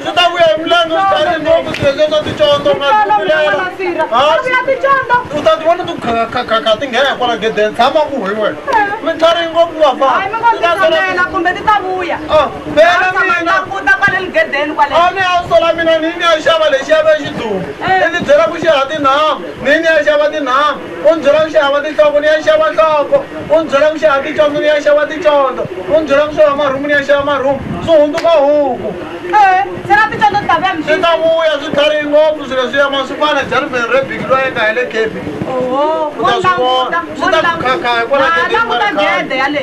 ndzi ta vuya hi milenge swi tari ngopfu swilo leswa ticondo u ta ti vona ti khakha ti nghena hikwala gedeni tshama ku hi wena mi tari ngopfu vafaela a ni ya sola mina ni ni ya xava lexi ya ve xiduma i ni byela ku xi ha tinhamu ni ni ya xava tinhamu u n'wi byela ku xava tinhloko ni ya xava nhloko u n'wi byela ku xava ticondzo ni ya xava ticondzo u n'wi byela ku xava marhumu ni ya xava marhumu swi hundzuka huku swi ta vuya swi tlharihi ngopfu swilo swi ya masukwana jarivheni re biki loyi eka hi le kepi u ta swi vona swi ta ku khakha hikwalaoaaaeale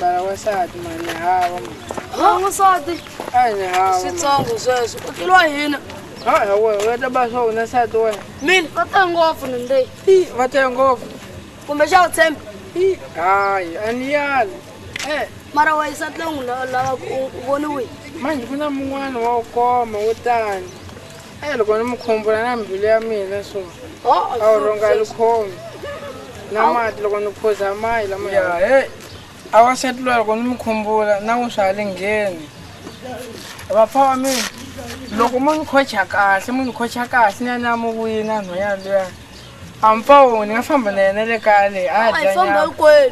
mara wansati mani hava n'wansati a ni hava switsongo sweswo u tleliwa hina a we u ya ta ba swa wena nsati wena mina va tele ngopfu ni nde va tele ngopfu kumbe xa wu tshembe hayi a ni yali e mara wa yisati leyi n'wi lava ku u voniwile manje ku na mun'wana wa wu koma wo tani e loko ni mi khumbula na mbilu ya mina so a wu rhonga likhomi na mati loko ni phuza mayi lama ya he a wa sati loyi loko ni mi khumbula na n'wi swa le ngheni vapfa wa mina loko mo ni khocha kahle mo ni khocha kahle ni ya ni ya mi wina nhwanyana luyani a mi pfa wona ni nga famba na yena le kaya leyi a dya nyama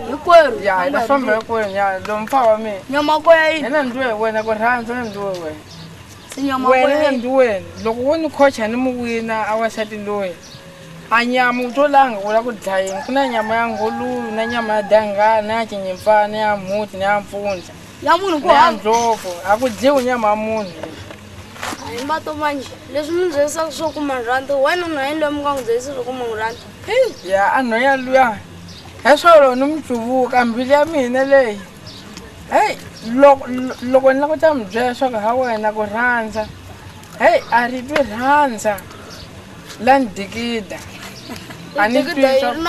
hinkwerhu ya hi ta famba hinkwerhu nyana lomu pfa wa mina nyama ko ya yini yena ni ndluwe hi wena ku rhandza ni ndluwe wena Sinyama wena wena. nandi wena loko wo ni khocha ni mu wina a wasati loyi a nyama u to langa u la ku dlayini ku na nyama ya ngoluyu na nyama ya dangala na ya cinyimfana na ya mhuti na ya mpfundla Ya munhu ku na ya hava. ndlopfu a ku dliwi nyama ya munhu A hi mbato manje. Leswi mi byelisa swo kuma rhandi. Wena na yini loyi mi nga n'wi byelisa swo kuma rhandi? ya a nhoya luya hi swolo ni mu cuvuka mbilu ya mina leyi heyi loko loko ni lava ku ta mi byela leswaku ha wena ku rhandza heyi a ri twi rhandza la ni dikida a ni twi leswaku-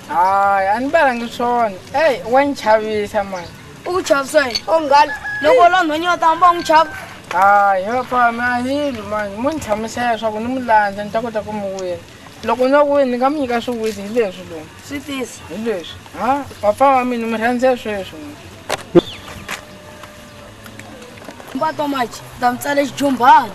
hayi a ni balangi swona eyi wa ni chavisa mani u ku chavisa yini onghani loko la nhonyi va tamba va n'wi chava hayi vapami a hilo mani mo ni hlamusela leswaku ni mu landza ni ta kota ku mi wina loko ndzo ku ni nga mi nyika swiwiti hi leswi lowu swi tisa hi leswi ha papa wa mina mi rhandze sweswi mbato maji ta mi tsale xijumbhana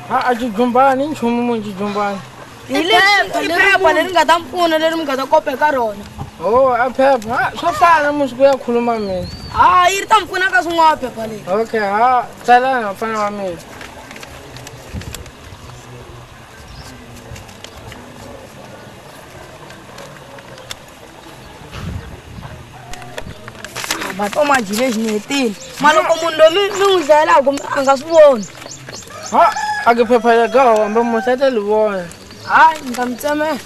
ha a xijumbhani nchumu mu xijumbhani hi leswi phepha leri nga ta mi pfuna leri mi nga ta kopa eka rona o a phepha ha swo fana musi ku ya khuluma mina ha yi ri ta mi pfuna ka swin'wana phepha leri okay ha tsalana mfana wa mina mato manji lexi ni hetile ma loko munhu loyi mi mi n'wi dlayelaka a nga swi voni ha a ke phepha ya gaho kambe muhlata li vona hayi ni ta mi tsemela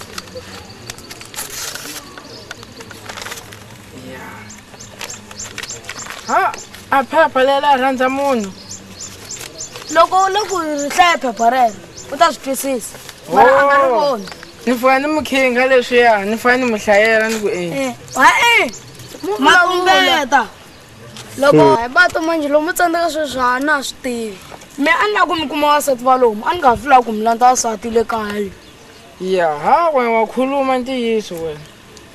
ha a phepha leri a rhandza munhu loko u le ku hlaya phepha rero u ta swi twisisa mara a nga ri oh. voni ni fana ni mukhinga leswiya ni fana ni mu hlayela ni ku e eh, hae eh, makumbeta loko hmm. hi bato manjhe lomu tsandzeka sweswi ha na swi tivi mi a ni lava ku mi kuma wasati va lomu a ni nga fi lava ku mi landza wasati le kaya yaha wena wa khuluma ntiyiso wena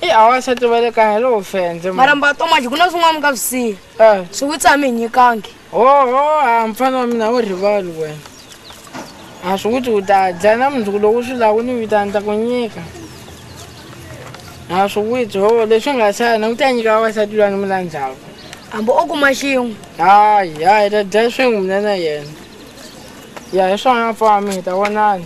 i a wansati va le kaya lowo fendze mara mbatomaji ku na swin'wana mi nga swi siya eh. swi witsi a mi hi nyikangi hoho a mfana wa mina wo rivali wena a swi witsi u ta dya na mundzuku lowu swi lawu ni vitani ta ku nyika a swi witsi hoho leswi nga sana u ta nyika vavasati lwani mi landzaka hambi o kuma xin'we hayi hayi ta dya swin'we mina na yena ya hi swona mfami hi ta vonana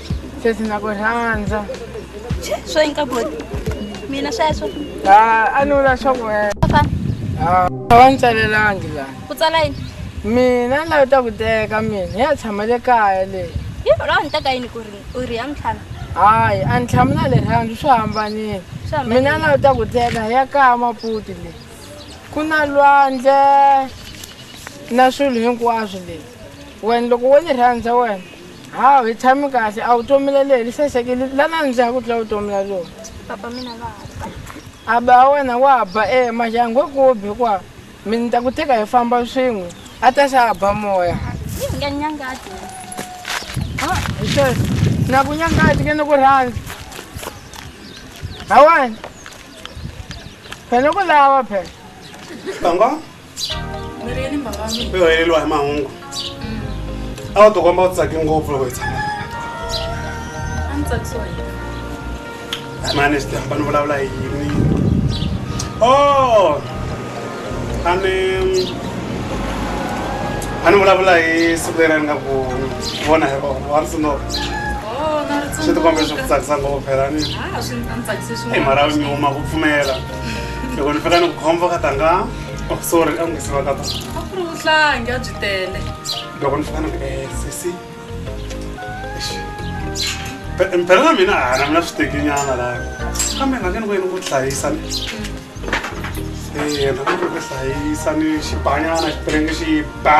sesi na ku rhandza swo yinka boti mina sweswo ha a ni vula swa ku wena fana ha a va ni tsalelangi laha ku tsala yini mina layo ta ku teka mina ya tshama le kaya leyi yi lawa ni teka yini ku ri u ri ya ntlhanu hayi a ni tshami na le rhandzu swi hambanile Swi hambanile. mina layo ta ku teka ya kaya maputi leyi ku na lwandle na swilo hinkwaswo leyi wena loko wo ni rhandza wena hawu hi tshami kahle a wu tomile leyi li sasekile la na ndzi ya ku tlula vutomi la lona papa mina va a ba wena wa ba e majangu kubi kwa mi ni ta ku teka hi famba swin'we a ta xa ba moya nga nyangati ha hi sweswo na ku nyangati ke ni ku rhandza hawani phela ku lava phela Mirhi ni mhaka ya mina. u heleriwa hi mahungu a wu tikomba u tsake ngopfu loko hi tshama A ndzi tsakisiwa hi yena. mani swi hamba ni vulavula hi yini o a ni a ni vulavula hi siku leri a ni nga ku vona hi rona wa ri sinoka Oh, na ri swi tikombe swi ku tsundzuka. tsakisa ngopfu phela ni Ah, swi a ndzi tsakise swinene. i mhara u nyuma ku pfumela loko ni fika ni ku khombo ka tanga oh sorry a n'wisi va ka ta a ku ri vuhlangi a byi tele loko ni fika ni ku eh sisi phela na mina a na mina swi tekinyana laha kambe nga ke ni ku yini ku hlayisa ni eh na ku hlayisa ni xibanyana xipirenge xi ba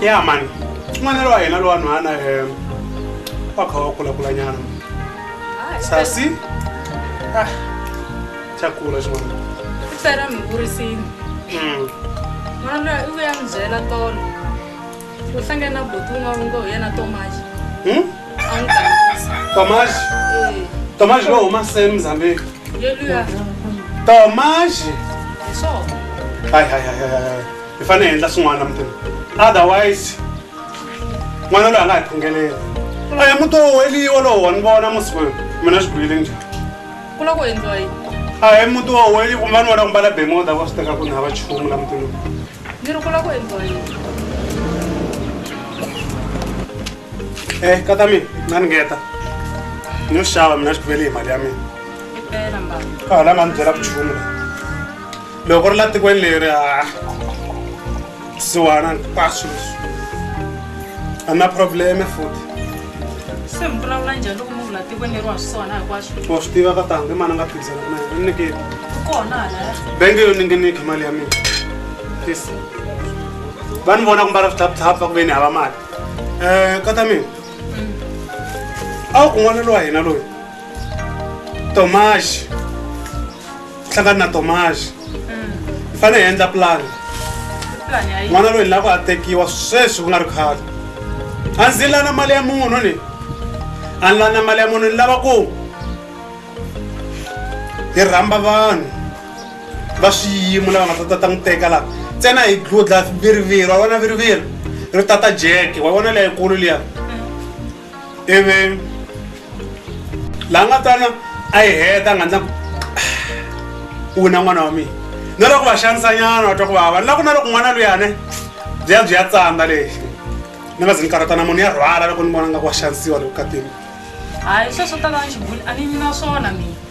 ya mani n'wanelo wa hina lowa nhwana um wa kha wa kulakulanyana sasi ah, xa kula xin'wana Sara mi vurisini. Mm. N'wana loyi u vuya n'wi byela tolo. Uhlangana na buti un'wana u ngo hi yena Thomas. Hmm? A n'wi gangisa. Thomas? Eh. Thomas lo huma se Mozambique. Ye luya. Thomas? Hi swona. Hayi hayi hayi hayi. Hi fanele hi endla swin'wana mutini. Otherwise n'wana loyi a nga hi phungelela. A hi muti wo weliwa lowu wa ni vona masiku yo. Mina swi bihile njhani? Ku loko endliwa yini? A hi muti wo weliwa kumbe va ni vona ku mbala bemoda va swi teka ku ni hava nchumu la mutini. Ni ri ku lava ku endliwa yini? Eh, kata mina, na ni ngeta. Ni yo xava mina xibele hi mali ya mina. Impela mbala. Ka hala nga ni byela vuchumu la. Loko ri la tikweni leri ha siwana hinkwaswo leswi. A na probleme futhi. se mi vulavula njhani loko munhu la tikweni leri wa swi sona hinkwaswo wa swi tiva ka tangi mani a nga phikizana na yena nikeni ku kona halaya benge yo ninginiki mali ya mina please va ni vona ku mbala swithaphuthaphutha ku ve ni hava mali um kata mina a wu kun'wana lowa hina loyi tomaxi hlangana na tomaxi hi fanele hi endla pulani n'wana loyi lava a tekiwa sweswi ku nga ri khale a ndzi lana mali ya munhu ni a ni lana mali ya munhu ni lava ku hi rhamba vanhu va swiyimo lava nga ta tata n'wi teka laha ntsena hi dludla viriviri wa vona viriviri ri tata jeke wa vona leyikulu liya ivi laha nga tsana a yi heta a nga ndla ku u na n'wana wa mina na loko va xanisanyana wa twa ku vava ni la ku na loko n'wana luyane byi ya byi ya tsandza lexi ni nga zi ni karhatana munhu ya rhwala loko ni vona nga ku wa xanisiwa loko katini hayi sweswo tala ni xibuli a ni yimi na swona mina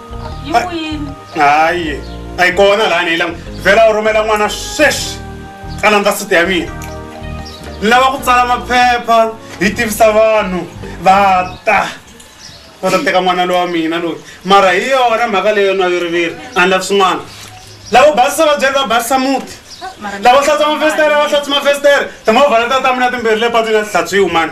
yi Ai. kwini hayi a yi kona laha ni yi langu vhela u rhumela n'wana sweswi a landza siti ya mina ni lava ku tsala maphepha hi tivisa vanhu va ta va ta teka n'wana lowa mina loyi mara hi yona mhaka leyo na yiriviri a ni lavi swin'wana lavo basisa vabyeri va basisa muti lavo hlatsa mafestere va hlatsa mafestere timovha leta ta mina timbirhi le patwini a ti hlatsi yi humani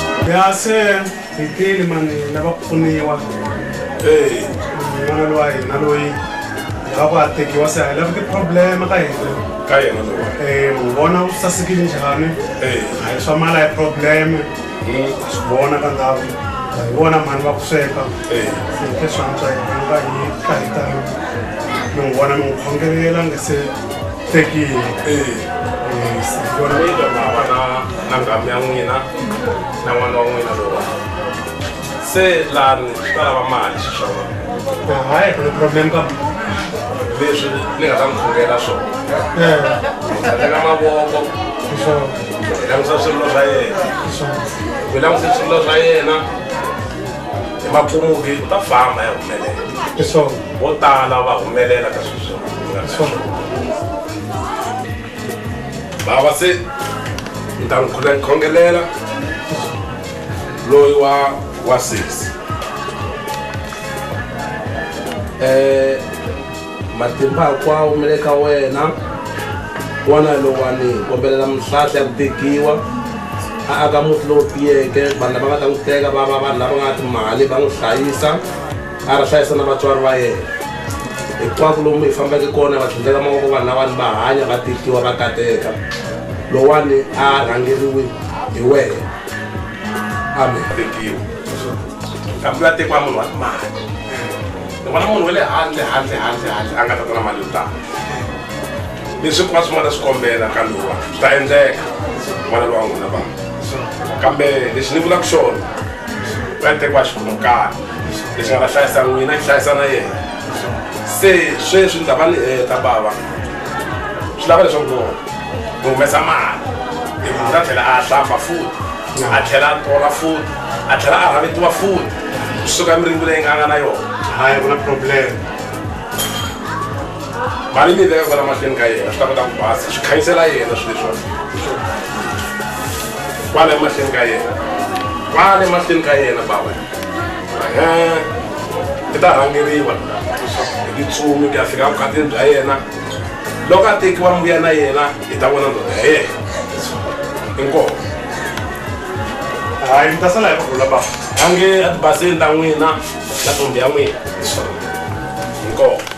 ya se hi tile mani hi lava ku pfuniwa Hey, n'wana lowa hina loyi hi lava ku a tekiwa se hi lava ti-problem ka hina ka yena lowa. Eh, mu vona u sasekile njhani Hey, a hi swa mali a hi problem mm, a swi vona ka ndhawu a hi vona mhani va ku sweka hey. se hi tlhe swantswa hi ka hi ka hi ta mi n'wi vona mi n'wi khongelela nge se tekile vona vito mava na na nghamu ya n'wina na n'wana wa n'wina lowa se lani swi ta lava mali swi swa vona hayi ku ni problem ka leswi ni nga ta mi khuvela swona teka mavoko hi langusa swirilo swa yena hi langusa swirilo swa yena hi mapfumuki u ta famba ya humelela vo tala va humelela ka sweswo bava se ni ta n'wi khongelela loyi wa wa sesi um eh, matimba hinkwawo mi le ka wena wana lowani kombelela mihlahla ya ku tekiwa a aka muti lowu tiyeke vanhu lava nga ta n'wi teka va va vanhu lava nga timali va n'wi hlayisa a ri hlayisa na vatswari va yena hinkwako lomu hi fambeke kona va tlhandleka mavoko vanhu lavani va hanya va tihliwa va kateka lowani a rhangeriwi hi wena amen tekiwa kambe va tekiwa munhu wa timali ni vona munhu wa le handle handle handle handle a nga ta ta na mali yo tala leswi ku va swi nga ta swi kombela kambe wa swi ta endleka n'wana lowa n'wina vanhu kambe lexi ni vulaka xona vatekwa xivokana lexi nga va hlayisa n'wina xi hlayisa na yena se sweswi ni ta va ni heta bava swi lava leswaku ni humesa mali hi munhu a tlhela a hlamba futi a tlhela a tola futi a tlhela a rhavetiwa futi kusuka miringu leyi nga nga na yona hayi ku na problem mali ni leyo sala mahlweni ka yena swi ta kota ku basa swi khanyisela yena swi leswiwa kwala emahlweni ka yena kwala emahlweni ka yena baba i ta rhangeriwa hi titsumi ku ya fika vukatini bya yena loko a tekiwa mbuya na yena hi ta vona ndoda ya yena inkoho hayi mi ta sala hi kurhula baba ange a tibaseni ta n'wina na tombi ya n'wina inkoho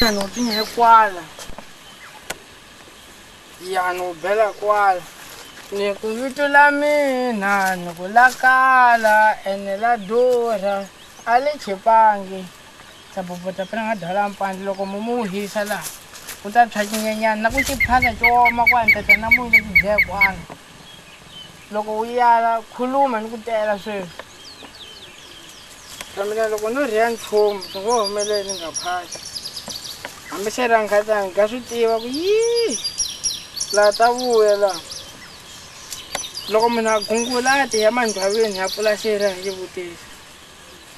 Yano pinhe kwala. Yano bela kwala. Ni ku vito la mina ni ku la kala ene la durha a li chipangi. Sabobota pele nga dwala mpandzi loko mumu wu hisa laha ku ta tshwa cinyenyana na ku xiphana xo woma ku antata na munyu lexi dlaya kwanga loko wu yala khuluma ni ku tela sweswi ka mina loko no rhiya nchumu swi ngo humelele ni nga phasi hambi se ra nkhatani ga swi tiva ku yii laha ta vuya laha loko munhu a gungula a tiya mandyhaveni ya pfula xera hi xivutiso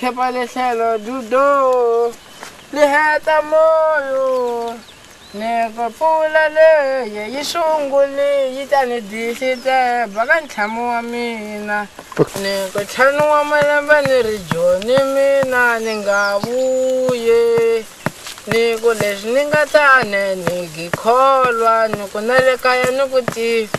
Khepa lehlelo dudo li heta moyo ni ku pfula leyi yi sunguli yi ta ni disiteba ka ntlhamu wa mina ni ku ntlhanu wa malembe ni ri joni mina ni nga vuye ni ku leswi ni nga ta ne ni gikholwa ni ku na le kaya ni ku tiva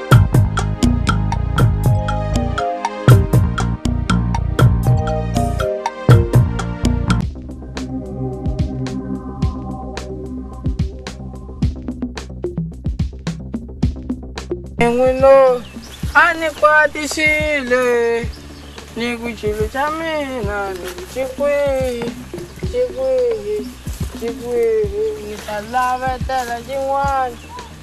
n'wino a ni kwatisile ni ku chilo xa mina ni ku xi kwihi xi kwihi xi kwihi ni ta lavetela xin'wana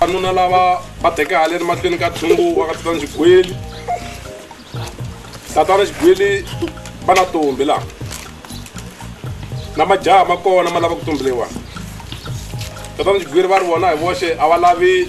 vanuna lava va teke haleni mahlweni ka tshungu wa ka tatana xigwili tatana xigwili va na tombi laha na majaha ma kona ma lava ku tumbeliwa tatana xigwili va ri vona hi voxe a va lavi